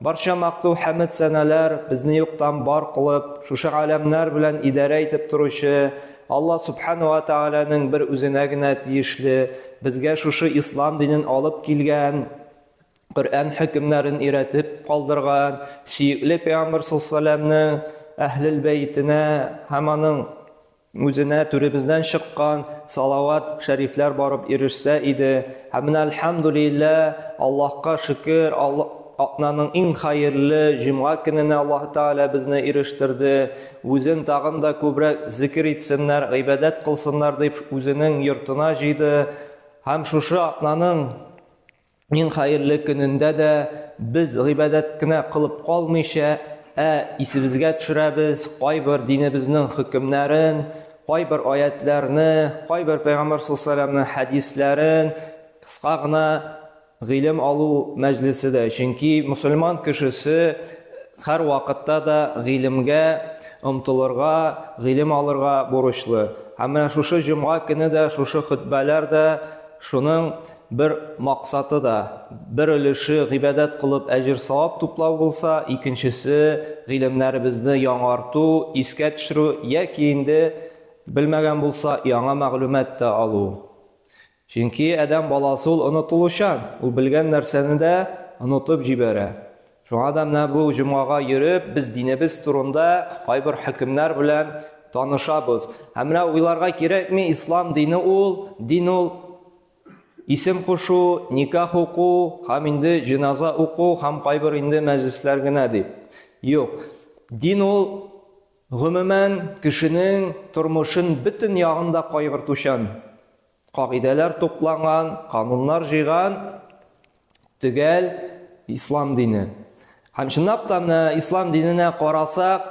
Барча макту хәмед сәнәләр безне юктан бар кылып, шушы галәмнәр белән идарә итеп торучы Алла Сүбхәнә вә Тәгаләнең бер үзенә генә тиешле, безгә шушы Ислам динен алып килгән, Коръән хөкемнәрен өйрәтеп калдырган сөекле Пәйгамбәр салләһу галәйһи ва сәлләмнең Әһлел бәйтенә һәм аның Үзенә түребездән чыккан салават шәрифләр барып ирешсә иде. Һәм менә әлхәмдүлиллә, Аллаһка шөкер, атнаның иң хәерле җомга көненә Аллаһ Тәгалә безне ирештерде. Үзен тагын да күбрәк зикер итсеннәр, гыйбадәт кылсыннар дип үзенең йортына җыйды. Һәм шушы атнаның иң хәерле көнендә дә без гыйбадәт кенә кылып калмыйча, ә исебезгә төшерәбез кайбер динебезнең хөкемнәрен, кайбер аятләрне, кайбер пәйгамбәр саллаллаһу хәдисләрен кыска гына гыйлем алу мәҗлесе дә. Чөнки мусульман кешесе һәр вакытта да гыйлемгә омтылырга, гыйлем алырга бурычлы. Һәм менә шушы җомга көне дә, шушы хөтбәләр дә шуның Бер максаты да, бер өлеше гыйбадәт кылып әҗер-савап туплау булса, икенчесе, гыйлемнәребезне яңарту, искә төшерү яки инде белмәгән булса, яңа мәгълүмат та алу. Чөнки адәм баласы ул онытылучан, ул белгән нәрсәне дә онытып җибәрә. Шуңа да менә бу җомгага йөреп, без динебез турында кайбер хөкемнәр белән танышабыз. Һәм менә уйларга кирәкми, ислам дине ул, дин ул Исем кушу, никах уку һәм инде җеназа уку һәм кайбер инде мәҗлесләр генә ди. Юк. Дин ул, гомумән, кешенең тормышын бөтен ягын да кайгыртучан, кагыйдәләр тупланган, кануннар җыйган төгәл Ислам дине. Һәм чынлап та менә Ислам диненә карасак,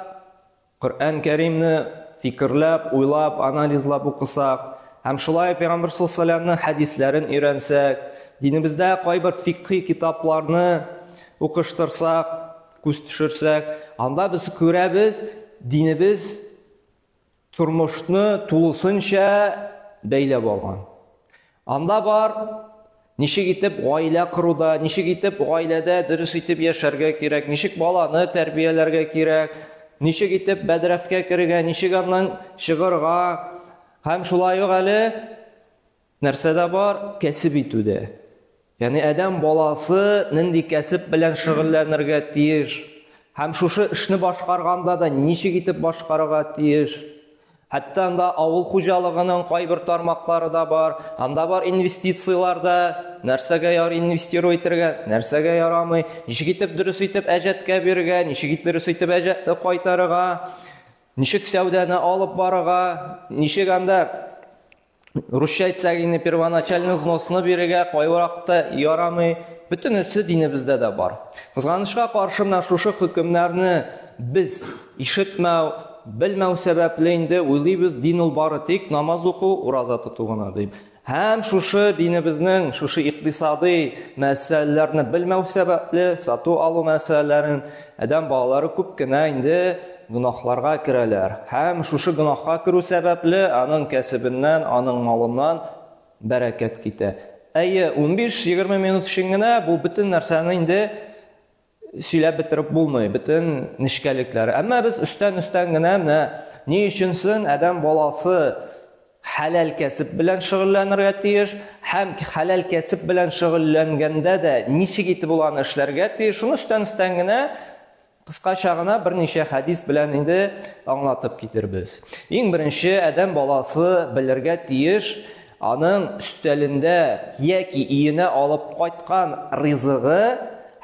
Коръән Кәримне фикерләп, уйлап, анализлап укысак һәм шулай Пәйгамбер салләллаһу хәдисләрен өйрәнсәк, динебездә кайбер фикхи китапларны укыштырсак, күз төшерсәк, анда без күрәбез, динебез тормышны тулысынча бәйләп алган. Анда бар, ничек итеп гаилә коруда, ничек итеп гаиләдә дөрес итеп яшәргә кирәк, ничек баланы тәрбияләргә кирәк, ничек итеп бәдрәфкә керергә, ничек аннан чыгырга, һәм шулай ук әле нәрсә дә бар, кәсеп итү дә. Ягъни адәм баласы нинди кәсеп белән шөгыльләнергә тиеш һәм шушы эшне башкарганда да ничек итеп башкарырга тиеш? Хәтта анда авыл хуҗалыгының кайбер тармаклары да бар, анда бар инвестицияләр дә, нәрсәгә яр инвестиру итергә, нәрсәгә ярамый, ничек итеп дөрес итеп әҗәткә бирергә, ничек итеп дөрес итеп әҗәтне кайтарырга, ничек сәүдәне алып барырга, ничек анда Русча әйтсәк инде первоначальный взносны бирергә кайвакытта ярамый. Бөтенесе динебездә дә бар. Кызганычка каршы менә шушы хөкемнәрне без ишетмәү, белмәү сәбәпле инде уйлыйбыз, дин ул бары тик намаз уку, ураза тоту гына дип. Һәм шушы динебезнең шушы икътисадый мәсьәләләрне белмәү сәбәпле, сату алу мәсьәләләрен Адәм балалары күп кенә инде гөнаһларга керәләр һәм шушы гөнаһка керү сәбәпле аның кәсебеннән, аның малыннан бәрәкәт китә. Әйе, унбиш-егерме минут өчен генә бу бөтен нәрсәне инде сөйләп бетереп булмый, бөтен нечкәлекләр. Әмма без өстән-өстән генә менә ни өчен соң адәм баласы хәләл кәсеп белән шөгыльләнергә тиеш һәм хәләл кәсеп белән шөгыльләнгәндә дә ничек итеп ул аны эшләргә тиеш, шуны өстән-өстән генә, кыскача гына берничә хәдис белән инде аңлатып китербез. Иң беренче, адәм баласы белергә тиеш, аның өстәлендә яки өенә алып кайткан ризыгы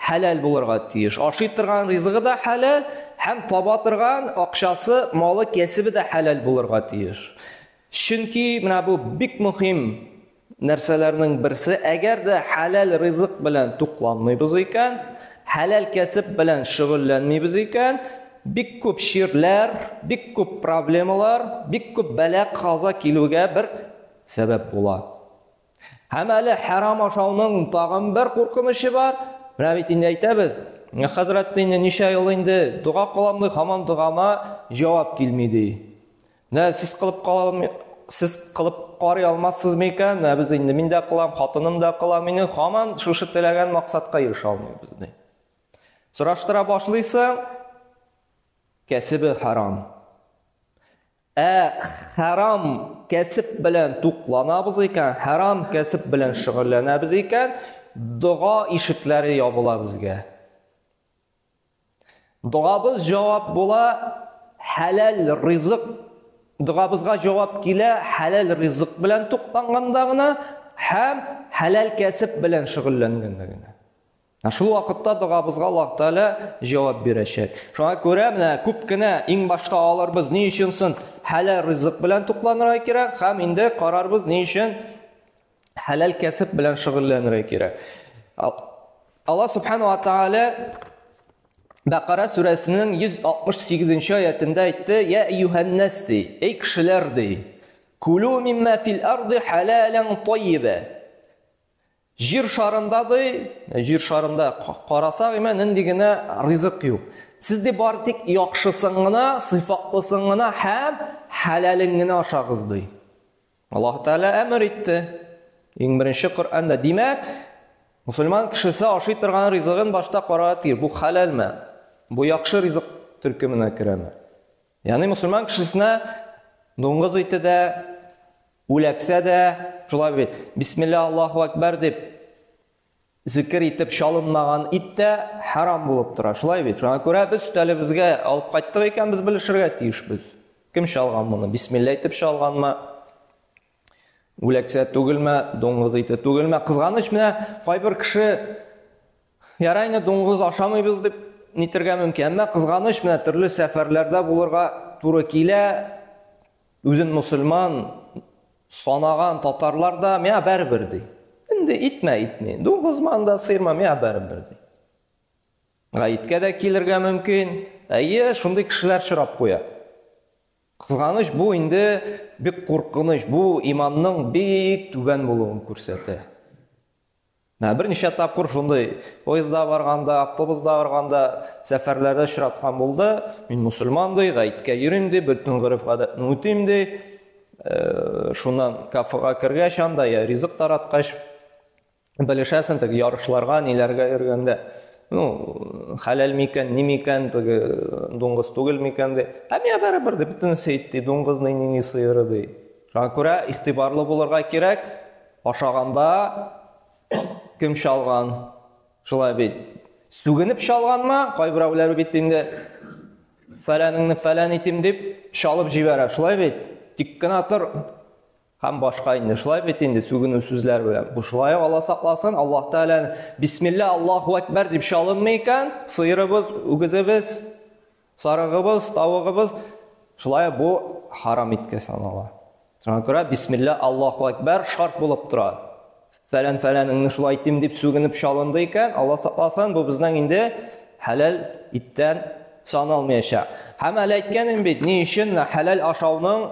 Хәләл булырга тиеш. Ашый торган ризыгы да хәләл һәм таба торган акчасы, малы, кәсебе дә хәләл булырга тиеш. Чөнки менә бу бик мөһим нәрсәләрнең берсе. Әгәр дә хәләл ризык белән тукланмыйбыз икән, хәләл кәсеп белән шөгыльләнмибез икән, бик күп чирләр, бик күп проблемалар, бик күп бәла-каза килүгә бер сәбәп була. Һәм әле хәрам ашауның тагын бер куркынычы бар. Менә бит инде әйтәбез, хәзрәт инде ничә ел инде дога кылам ди, хаман догама җавап килми ди. Менә сез кылып калам, сез кылып карый алмассыз микән? Менә без инде мин дә кылам, хатыным да кыла, мине хаман шушы теләгән максатка ирешә алмыйбыз ди. Сораштыра башлыйсың, кәсебе харам. Ә хәрам кәсеп белән тукланабыз икән, хәрам кәсеп белән шөгыльләнәбез икән, дога ишекләре ябыла безгә. Догабыз җавап була, хәләл ризык догабызга җавап килә, хәләл ризык белән тукланганда гына һәм хәләл кәсеп белән шөгыльләнгәндә генә. Шул вакытта догабызга Аллаһ Тәгалә җавап бирәчәк. Шуңа күрә менә күп кенә иң башта алырбыз ни өчен сон хәләл ризык белән тукланырга кирәк һәм инде карарбыз ни өчен хәләл кәсеп белән шөгыльләнергә кирәк. Алла Субхану ва Тәгалә Бәкара сүрәсенең 168-нче аятында әйтте: "Я юһаннас ди, эй кешеләр ди, кулу мимма фил арды халалан тайиба". Җир шарында ди, җир шарында карасак, имә нинди генә ризык юк. Сез ди бар тик яхшысын гына, сыйфатлысын гына һәм хәләлен генә ашагыз ди. Аллаһ Тәгалә әмер итте. Иң беренче Коръәндә. Димәк, мусульман кешесе ашый торган ризыгын башта карарга тиеш. Бу хәләлме? Бу яхшы ризык төркеменә керәме? Яни мусульман кешесенә дуңгыз ите дә, үләксә дә, шулай бит, бисмилла Аллаһу әкбәр дип зикер итеп чалынмаган ит тә харам булып тора. Шулай бит. Шуңа күрә без өстәлебезгә алып кайттык икән, без белешергә тиешбез. Кем чалган моны? Бисмилла итеп чалганмы? Үләксә түгелмә, дуңгыз ите түгелмә. Кызганыч менә кайбер кеше ярай инде дуңгыз ашамыйбыз дип нитергә мөмкин. Әмма кызганыч менә төрле сәфәрләрдә булырга туры килә. Үзен мусульман санаган татарлар да миңа бәрбер ди. Инде итмә итми. Дуңгызман да сыйрма миңа бәрбер ди. Гаеткә дә килергә мөмкин. Әйе, шундый кешеләр чорап куя. Кызганыч, бу инде бик куркыныч, бу иманның бик түбән булуын күрсәтә. Менә берничә тапкыр шундый поездда барганда, автобусда барганда, сәфәрләрдә очраткан булды. Мин мусульман ди, гаеткә йөрим ди, бөтен гореф-гадәтне үтим ди. Э, шуннан кафега кергәч анда я ризык тараткач, белешәсең теге ярышларга, ниләргә йөргәндә. Ну, хәләл микән, ни микән, теге дуңгыз түгел микән ди. Ә миңа барыбер ди, бөтенесе ит ди, дуңгыз ни, ни, ни сыеры ди. Шуңа күрә игътибарлы булырга кирәк, ашаганда кем чалган? Шулай бит. Сүгенеп чалганмы? Кайберәүләр бит инде фәләнеңне фәлән итим дип чалып җибәрә. Шулай бит. Тик кенә тор, Һәм башка инде шулай бит инде сүгенү сүзләр белән. Бу шулай Алла сакласын, Аллаһ Тәгалә бисмилла Аллаһу әкбәр дип чалынмый икән, сыерыбыз, үгезебез, сарыгыбыз, тавыгыбыз шулай бу харам иткә санала. Шуңа күрә бисмилла Аллаһу әкбәр шарт булып тора. Фәлән фәләнеңне шулай итим дип сүгенеп чалынды икән, Алла сакласын, бу безнең инде хәләл иттән саналмаячак. Һәм әле әйткәнем бит, ни өчен хәләл ашауның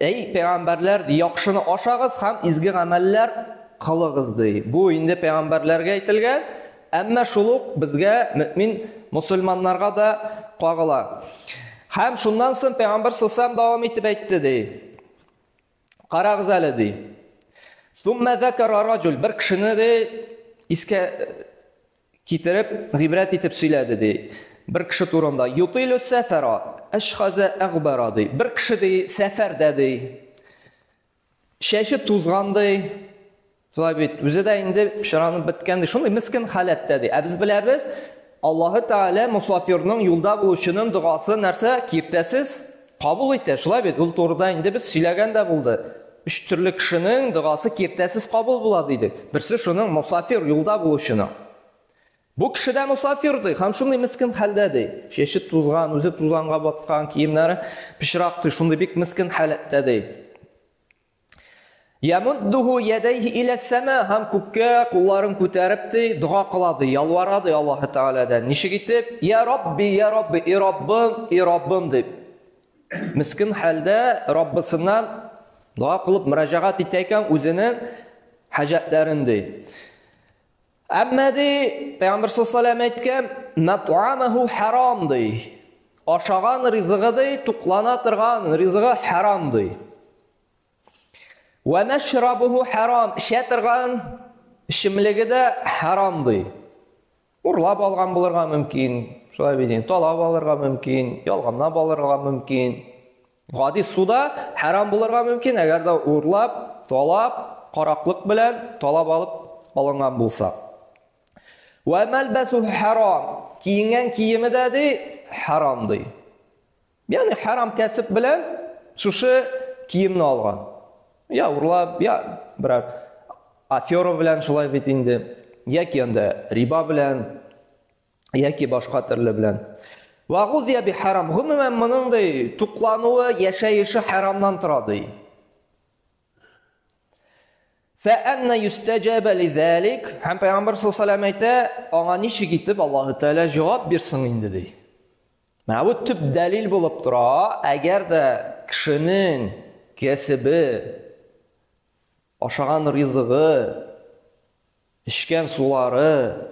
Әй, пәйгамбәрләр, яхшыны ашагыз һәм изге гамәлләр кылыгыз ди. Бу инде пәйгамбәрләргә әйтелгән, әмма шул ук безгә, мөмин мусульманнарга да кагыла. Һәм шуннан соң пәйгамбәр сусам дәвам итеп әйтте ди. Карагыз әле ди. Сумма закара раҗул бер кешене ди искә Китереп, гыйбрәт итеп сөйләде, ди. Бер кеше турында, Ютилю сәфәра, әшхазә әгъбара, ди. Бер кеше, ди, сәфәрдә, ди. Чәче тузган, ди. Шулай бит, үзе дә инде пычранып беткән, ди. Шундый мескин халәттә, ди. Ә без беләбез, Аллаһы Тәгалә мусафирның, юлда булучының догасын нәрсә? Киртәсез Кабул итә, шулай бит, ул турыда инде без сөйләгән дә булды. Өч төрле кешенең догасы киртәсез кабул була, дидек. Берсе шуның, мосафир, юлда булучының. Бу кеше дә мосафир, ди, һәм шундый мескен хәлдә, ди. Чәче тузган, үзе тузанга баткан, киемнәре пычрак, ди, шундый бик мескен халәттә, ди. Ямуддуху ядайхи илә сәма һәм күккә кулларын күтәреп ди, дога кыла ди, ялвара ди Аллаһы Тәгаләдән. Ничек итеп? Я Рабби, я Рабби, и Раббым, и Раббым дип. Мискин хәлдә Раббысыннан дога кылып мөрәҗәгать итә икән үзенең хаҗәтләрен ди. Әмма ди, Пәйгамбер саллаллаһу әйткән, "Мат'амаху харам" ди. Ашаган ризыгы ди, туклана торган ризыгы харам ди. Ва машрабуху харам, эчә торган эчемлеге дә харам ди. Урлап алган булырга мөмкин, шулай бит, талап алырга мөмкин, ялганлап алырга мөмкин. Гади су да хәрам булырга мөмкин, әгәр дә урлап, талап, караклык белән талап алып алынган булса. Вә мәлбәсүһү хәрам. Киенгән киеме дә ди, хәрам ди. Ягъни хәрам кәсеп белән шушы киемне алган. Я урлап, я берәр афера белән шулай бит инде. Яки анда риба белән яки башка төрле белән. Вагузия би харам. Гомумән моның ди туклануы, яшәеше харамнан тора ди. Фә анна юстаҗаба лизалик. Һәм Пәйгамбер саллаллаху әйтә, аңа ничек итеп Аллаһу Тәгалә җавап бирсен инде ди. Менә бу төп дәлил булып тора, әгәр дә кешенең кәсебе Ашаган ризыгы, эчкән сулары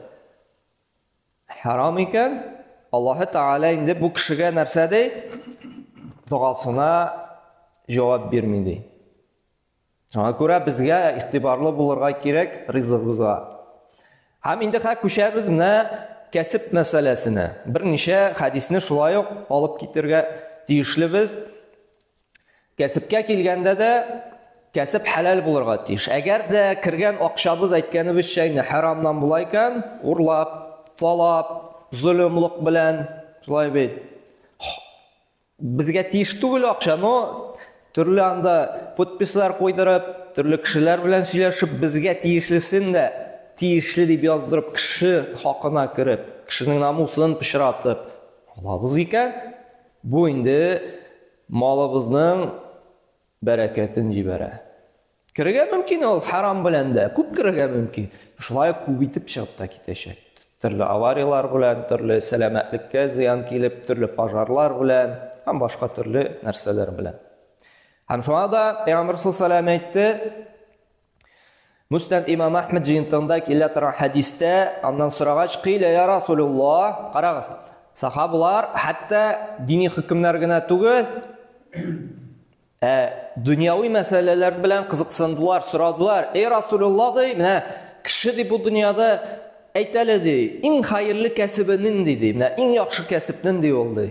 хәрам икән, Аллаһы Тәгалә инде бу кешегә нәрсә ди? Догасына җавап бирми ди. Шуңа күрә безгә игътибарлы булырга кирәк ризыгыбызга. Һәм инде хә күчәбез менә кәсеп мәсьәләсенә. Берничә хәдисне шулай ук алып китергә тиешле без. Кәсепкә килгәндә дә, кәсеп хәләл булырга тиеш. Әгәр дә кергән акчабыз әйткәнебезчә инде хәрамнан була икән, урлап, талап, золымлык белән, шулай бит. Безгә тиеш түгел акча, но төрле анда подпислар куйдырып, төрле кешеләр белән сөйләшеп, безгә тиешлесен дә тиешле дип яздырып, кеше хакына кереп, кешенең намусын пычратып алабыз икән, Бу инде малыбызның бәрәкәтен җибәрә. Керергә мөмкин ул хәрам белән дә, күп керергә мөмкин. Шулай ук күп итеп чыгып та китәчәк. Төрле аварияләр белән, төрле сәламәтлеккә зыян килеп, төрле пожарлар белән һәм башка төрле нәрсәләр белән. Һәм шуңа да Пәйгамбәр саллаллаху әйтте, Муснад имам Ахмед җыентында килә торган хәдистә, аннан сорагач, кыйлә я Расулуллаһ, карагыз, сахабалар хәтта дини хөкемнәр генә түгел, ә дөньяви мәсьәләләр белән кызыксындылар, сорадылар. Эй Расулуллаһ ди, менә кеше ди бу дөньяда әйтәле ди, иң хәерле кәсебе нинди ди, менә иң яхшы кәсеп нинди ул ди.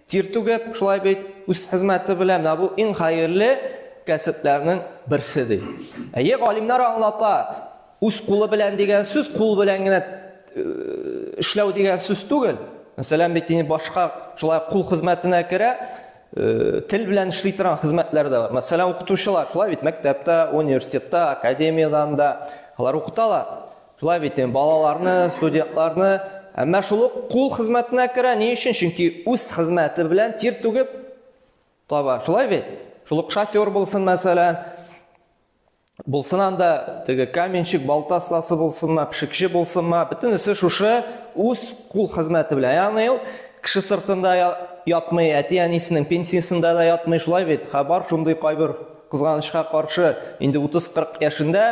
Тир түгеп, шулай бит, үз хезмәте белән менә бу иң хәерле кәсепләрнең берсе ди. Әйе, галимнар аңлата, үз кулы белән дигән сүз кул белән генә эшләү дигән сүз түгел. Мәсәлән, бит инде башка шулай кул хезмәтенә керә, тел белән эшли торган хезмәтләр дә бар. Мәсәлән, укытучылар шулай бит мәктәптә, университетта, академиядә анда алар укыталар. Шулай бит, балаларны, студентларны, әмма шул ук кул хезмәтенә керә. Ни өчен? Чөнки үз хезмәте белән тир түгеп таба. Шулай бит? Шул ук шофер булсын, мәсәлән, булсын анда теге каменщик, балта остасы булсынмы, пешекче булсынмы, бөтенесе шушы үз кул хезмәте белән. Ягъни ул кеше сыртында ятмый, әти-әнисенең пенсиясендә дә ятмый, шулай бит? Хәбар шундый кайбер Кызганычка каршы, инде 30-40 яшендә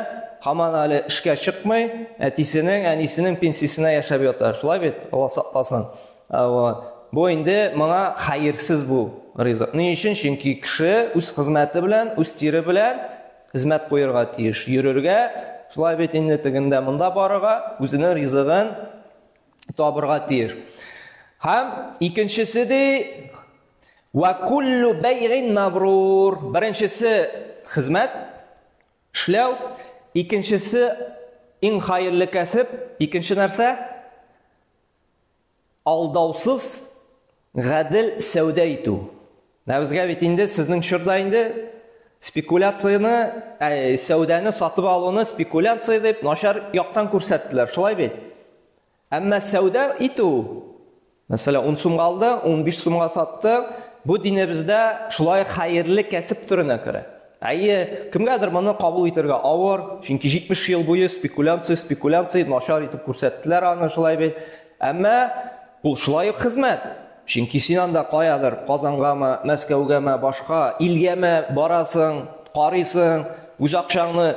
һаман әле эшкә чыкмый, әтисенең, әнисенең пенсиясенә яшәп ята. Шулай бит, Алла сакласын. Вот. Бу инде моңа хәерсез бу ризык. Ни өчен? Чөнки кеше үз хезмәте белән, үз тире белән хезмәт куерга тиеш. Йөрергә, шулай бит инде тегендә монда барырга, үзенең ризыгын табырга тиеш. Һәм икенчесе ди, Ва куллу бәйгин мабрур. Беренчесе хезмәт эшләү, икенчесе иң хайырлы кәсеп, икенче нәрсә? Алдаусыз гадел сәүдә итү. Ә безгә бит инде сезнең чорда инде спекуляцияне, ә, сәүдәне сатып алуны спекуляция дип начар яктан күрсәттеләр. Шулай бит? Әмма сәүдә итү, мәсәлән, ун сумга алды, унбиш сумга сатты, бу динебездә шулай ук хәерле кәсеп төренә керә. Әйе, кемгәдер моны кабул итәргә авыр, чөнки 70 ел буе спекулянция, спекулянция, начар итеп күрсәттеләр аны шулай бит. Әмма ул шулай ук хезмәт. Чөнки син анда каядыр Казангамы, Мәскәүгәме, башка илгәме барасың, карыйсың, үз акчаңны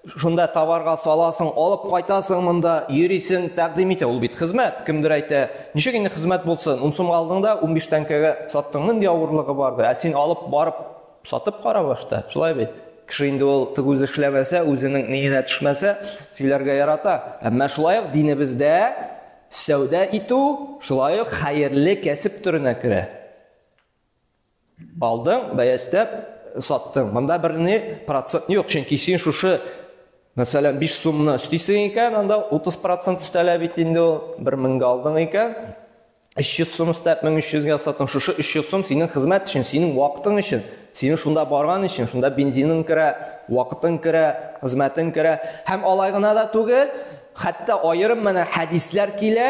Шунда товарга саласың, алып кайтасың монда, йөрисең, тәкъдим итә. Ул бит хезмәт, кемдер әйтә. Ничек инде хезмәт булсын? Ун сумга алдың да, унбиш тәңкәгә саттың. Нинди авырлыгы бар ди? Ә син алып барып сатып кара башта. Шулай бит? Кеше инде ул тыгүз эшләмәсә, үзенең ниенә төшмәсә, сөйләргә ярата. Әмма шулай ук динебездә сәүдә итү шулай ук хәерле кәсеп төренә керә. Алдың, бәястәп саттың. Монда берни процент юк, чөнки син шушы Мәсәлән, 5 сумны өстисең икән, анда 30% өстәлә бит инде ул. 1000 гә алдың икән, 300 сум өстәп 1300 гә саттың. Шушы 300 сум синең хезмәт өчен, синең вакытың өчен, синең шунда барган өчен, шунда бензиның керә, вакытың керә, хезмәтең керә. Һәм алай гына да түгел, хәтта аерым менә хәдисләр килә,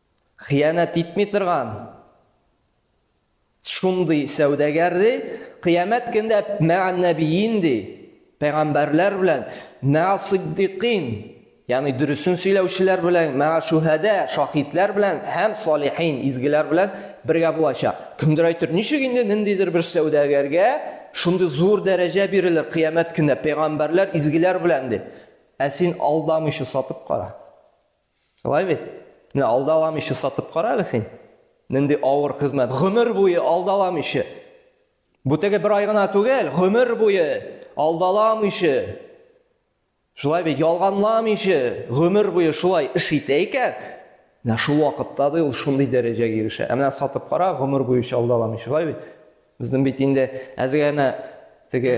Хыянәт итми торган шундый сәүдәгәр ди, кыямәт көндә мә'әннәбиин ди, пәйгамбәрләр белән, мә'әсыйддикин, ягъни дөресен сөйләүчеләр белән, мә'әшүһәдә, шаһитләр белән һәм салихин, изгеләр белән бергә булачак. Кемдер әйтер, ничек инде ниндидер бер сәүдәгәргә шундый зур дәрәҗә бирелер кыямәт көндә пәйгамбәрләр, изгеләр белән дип. Ә син алдамыйча сатып кара. Шулай бит? Менә алда алам ише сатып кара әле син. Нинди авыр хезмәт. Гомер буе алда алам ише. Бу теге бер ай гына түгел, гомер буе алда алам ише. Шулай бит, ялганлам ише, гомер буе шулай эш итә икән. Менә шул вакытта да ул шундый дәрәҗәгә ирешә. Ә менә сатып кара, гомер буе алда алам ише. Шулай бит. Безнең бит инде әзер генә теге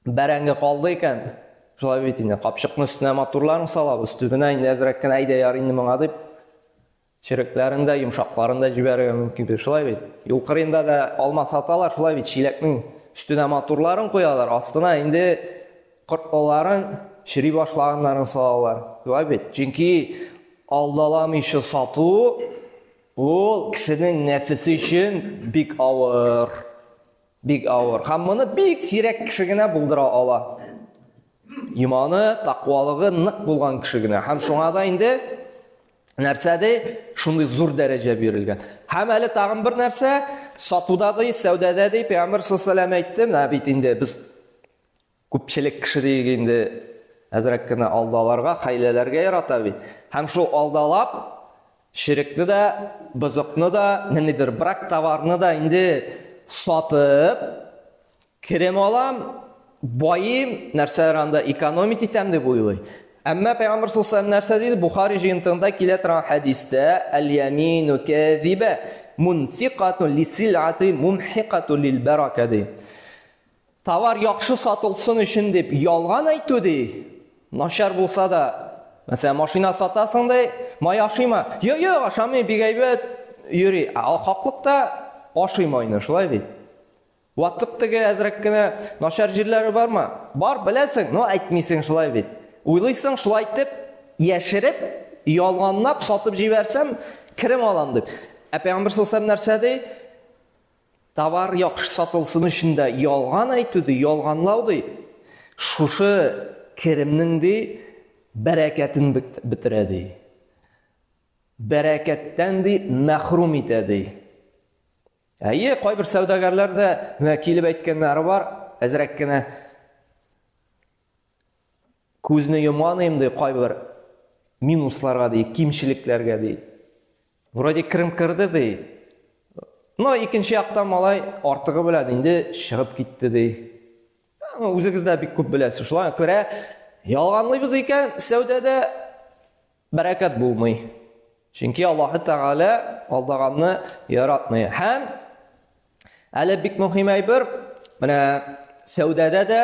бәрәңге калды икән, шулай бит инде, капчыкны өстенә матурларын салабыз, төбенә инде әзрәк кенә әйдә яр инде моңа дип, черекләрен дә, йомшакларын да җибәрергә мөмкин бит, шулай бит. Юл кырында да алма саталар, шулай бит, чиләкнең өстенә матурларын куялар, астына инде кортлыларын чери башлаганнарын салалар. Шулай бит. Чөнки алдаламыйча сату ул кешенең нәфесе өчен бик авыр. Бик авыр. Һәм моны бик сирәк кеше генә булдыра ала. Иманы, тақвалыгы нык булган кеше генә. Һәм шуңа да инде нәрсә ди? Шундый зур дәрәҗә бирелгән. Һәм әле тагын бер нәрсә, сатуда ди, сәүдәдә ди, Пәйгамбер саллаллаһу әйтте, менә бит инде без Күпчелек кеше диек инде, әзрәк кенә алдаларга, хәйләләргә ярата бит. Һәм шул алдалап, черекне дә, бозыкны да, ниндидер брак товарны да инде сатып, керем алам, баем, нәрсәләр анда экономить итәм дип уйлый. Әмма пәйгамбәр саллаллаһу нәрсә диде? Бухари җыентыгында килә торган хәдистә, Әл-ямину кәзибә мунфикатун лисилати мумхикатун лилбәрака ди. Товар яхшы сатылсын өчен дип ялган әйтү ди. Начар булса да, мәсәлән, машина сатасың ди, май ашыйма. Йо, йо, ашамый, бик әйбәт йөри. Ә хаклыкта ашый майны, шулай бит. Ватлык теге әзрәк кенә начар җирләре бармы? Бар, беләсең, но әйтмисең, шулай бит. Уйлыйсың, шулай итеп, яшереп, ялганлап сатып җибәрсәм, керем алам дип. Ә Пәйгамбер саллаллаһу нәрсә ди? Товар яхшы сатылсын өчен дә ялган әйтү ди, ялганлау ди, шушы керемнең ди бәрәкәтен бетерә ди. Бәрәкәттән ди мәхрүм итә ди. Әйе, кайбер сәүдәгәрләр дә менә килеп әйткәннәре бар, әзрәк кенә күзне йомган инде кайбер минусларга ди, кимчелекләргә ди. Вроде керем керде ди. Но икенче яктан малай артыгы белән инде чыгып китте ди. Ну, үзегез дә бик күп беләсез. Шулай күрә ялганлыйбыз икән, сәүдәдә бәрәкәт булмый. Чөнки Аллаһ Тәгалә алдаганны яратмый. Һәм әле бик мөһим әйбер, менә сәүдәдә дә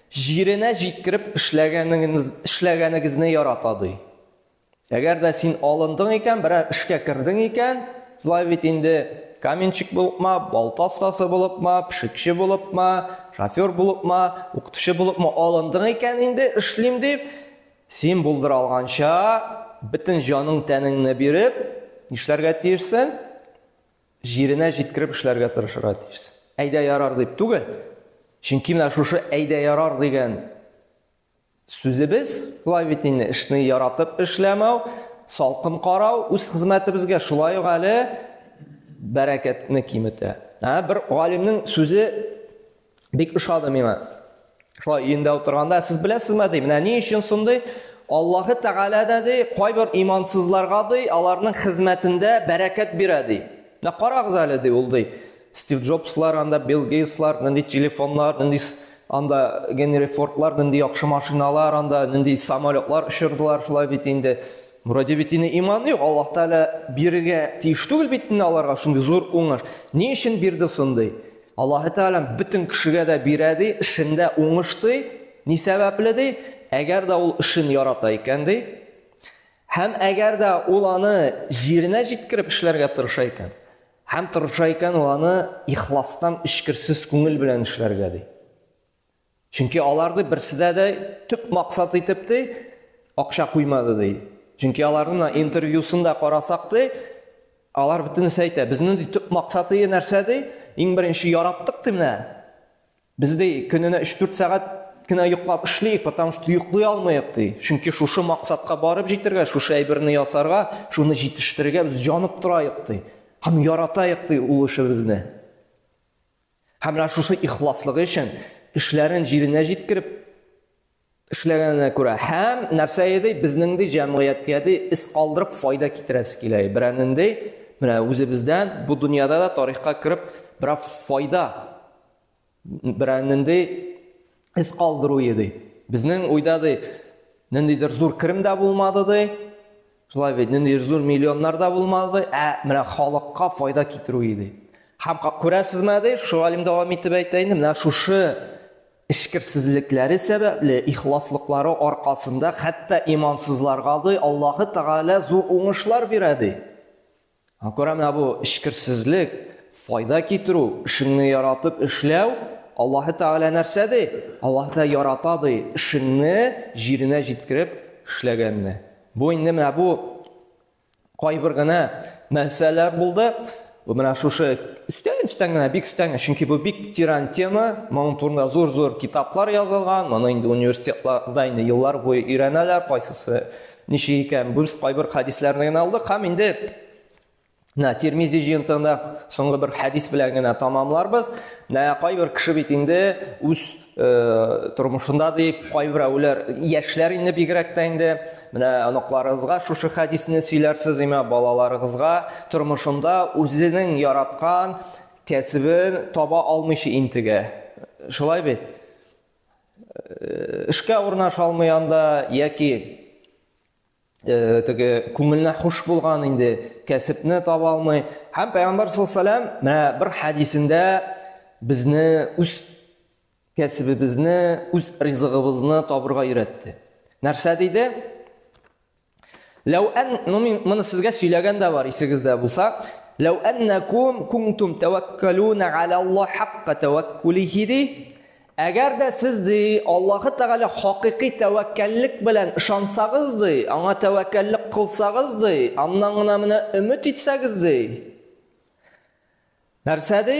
Җиренә җиткереп эшләгәнегезне ярата, ди. Әгәр дә син алындың икән, берәр эшкә кердең икән, шулай бит инде, каменщик булыпмы, балта остасы булыпмы, пешекче булыпмы, шофер булыпмы, укытучы булыпмы алындың икән инде, эшлим дип, син булдыра алганча, бөтен җаның-тәнеңне биреп, нишләргә тиешсең? Җиренә җиткереп эшләргә тырышырга тиешсең. Әйдә ярар дип түгел. Чөнки менә шушы әйдә ярар дигән сүзебез, болай бит инде, эшне яратып эшләмәү, салкын карау үз хезмәтебезгә шулай ук әле бәрәкәтне киметә. Ә бер галимнең сүзе Бик ошады миңа. Шулай өендә утырганда, сез беләсезме, ди, менә ни өчен шундый? Аллаһы Тәгалә дә ди, кайбер имансызларга ди, аларның хезмәтендә бәрәкәт бирә ди. Менә карагыз әле ди ул ди. Стив Джобслар, анда Билл Гейтслар, нинди телефоннар, нинди анда Генри Фордлар, нинди яхшы машиналар, анда нинди самолетлар очырдылар, шулай бит инде. Муради бит инде иманы юк, Аллаһ Тәгалә бирергә тиеш түгел бит инде аларга шундый зур уңыш. Ни өчен бирде соң ди? Аллаһы Тәгалә бөтен кешегә дә бирә ди, эшендә уңыш ди. Ни сәбәпле ди? Әгәр дә ул эшен ярата икән ди, һәм әгәр дә ул аны җиренә җиткереп эшләргә тырыша икән, һәм тырыша икән ул аны ихластан, эчкерсез күңел белән эшләргә ди. Чөнки аларны берседә дә төп максат итеп ди акча куймады ди. Чөнки аларның интервьюсын да карасак ди, алар бөтенесе әйтә, безнең ди төп максаты нәрсә ди? Иң беренче яраттык ди менә. Без ди көненә 3-4 сәгать кенә йоклап эшлик, потому что йоклый алмыйк ди. Чөнки шушы максатка барып җитәргә, шушы әйберне ясарга, шуны җитештерергә без җанып тораек ди. Һәм яратаек ди ул эшебезне. Һәм менә шушы ихласлыгы өчен эшләрен җиренә җиткереп эшләгәненә күрә һәм нәрсә иде безнең ди җәмгыятькә ди эз калдырып файда китерәсе килә берәнендей менә үзебездән бу дөньяда да тарихка кереп бераз файда берәнендей эз калдыру иде. Безнең уйда ди, ниндидер зур керем дә булмады ди. Шулай бит, ниндидер зур миллионнар да булмады ди, ә менә халыкка файда китерү иде. Һәм күрәсезме ди, шушы галим дәвам итеп әйтә инде, менә шушы эшкерсезлекләре сәбәпле, ихласлыклары аркасында хәтта имансызларга ди Аллаһы Тәгалә зур уңышлар бирә ди. Кара менә бу эчкерсезлек, файда китерү, эшеңне яратып эшләү, Аллаһы Тәгалә нәрсә ди? Аллаһы Тәгалә ярата ди, эшеңне җиренә җиткереп эшләгәнне. Бу инде менә бу кайбер генә нәрсәләр булды. Бу менә шушы өстән өстән генә бик өстән, чөнки бу бик тиран тема, моның турында зур-зур китаплар язылган, моны инде университетларда инде еллар буе өйрәнәләр, кайсысы Ничек икән, гүз кайбер хәдисләрне генә алдык һәм инде Менә Тирмизи җыентыгында соңгы бер хәдис белән генә тамамларбыз. Менә кайбер кеше бит инде үз э, тормышында дип кайбер әүләр яшьләр инде бигрәк тә инде менә оныкларыгызга шушы хәдисне сөйләрсез имә балаларыгызга тормышында үзенең яраткан кәсебен таба алмыйча интегә. Шулай бит? эшкә урнаша алмый анда яки э, теге күңеленә хуш булган инде кәсепне таба алмый һәм пәйгамбәр саллаллаху менә бер хәдисендә безне үз кәсебебезне үз ризыгыбызны табырга өйрәтте нәрсә диде Ләү ән, ну мин моны сезгә сөйләгән дә бар, исегездә булса. Ләү әннәкум кунтум тәвәккәлүнә галә Аллаһ хакка тәвәккүлихи ди. Әгәр дә сез ди Аллаһы Тәгалә хакыйкый тәвәккәллек белән ышансагыз ди, аңа тәвәккәллек кылсагыз ди, аннан гына менә өмет итсәгез ди. Нәрсә ди?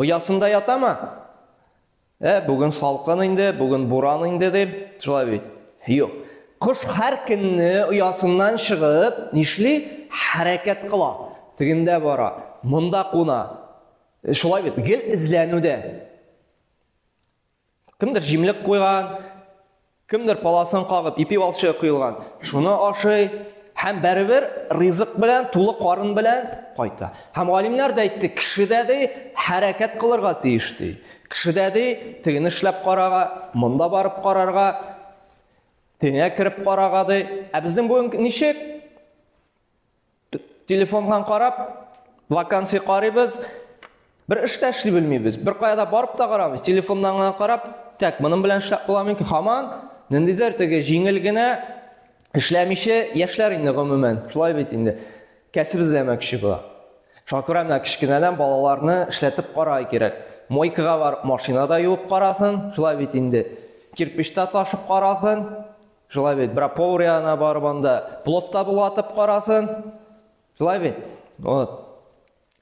Оясында ятамы? Ә, бүген салкын инде, бүген буран инде дип, шулай бит. Юк. Кош һәр көнне оясыннан чыгып, нишли? Хәрәкәт кыла. Тегендә бара, монда куна. Шулай бит, гел эзләнүдә. Кемдер җимлек куйган, кемдер паласын кагып ипи балчыгы коелган. Шуны ашый һәм бәребер ризык белән, тулы карын белән кайта. Һәм галимнәр дә әйтте, кешедә ди хәрәкәт кылырга тиеш ди. Кешедә ди тегене эшләп карага, монда барып карарга, теңә кереп карага ди. Ә безнең бүген ничек? Телефоннан карап, вакансия карыйбыз, бер эш тә эшли белмибез. Бер кая да барып та карамыйбыз. Телефоннан гына карап, так, моның белән эшләп була микән? Хаман ниндидер теге җиңел генә эшләмичә яшьләр инде гомумән. Шулай бит инде. Кәсеп эзләмәкче була. Шуңа күрә менә кечкенәдән балаларны эшләтеп карай кирәк. Мойкага барып машинада юып карасын, шулай бит инде. Кирпечтә ташып карасын, Шулай бит, бра поврияна барып анда пловта булатып карасын. Шулай бит. Вот.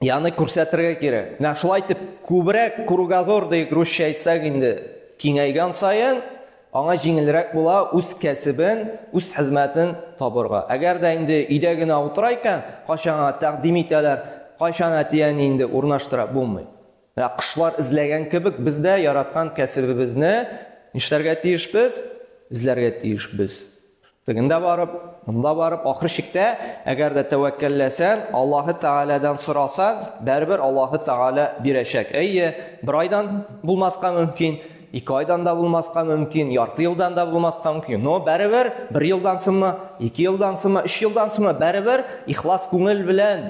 Яны күрсәтергә кирәк. Менә шулай итеп күбрәк кругозор дип русча әйтсәк инде киңәйгән саен аңа җиңелрәк була үз кәсебен, үз хезмәтен табырга. Әгәр дә инде өйдә генә утыра икән, кайчанга тәкъдим итәләр, кайчан әтиәни инде урнаштыра булмый. Ә кошлар эзләгән кебек, без дә яраткан кәсебебезне нишләргә тиешбез? Эзләргә тиешбез. Тегендә барып, монда барып, ахыр чиктә, әгәр дә тәвәккәлләсәң, Аллаһы Тәгаләдән сорасаң, бәрбер Аллаһы Тәгалә бирәчәк. Әйе, бер айдан булмаска мөмкин, ике айдан да булмаска мөмкин, ярты елдан да булмаска мөмкин. Но бәрбер бер елдан соңмы, ике елдан соңмы, өч елдан соңмы, бәрбер ихлас күңел белән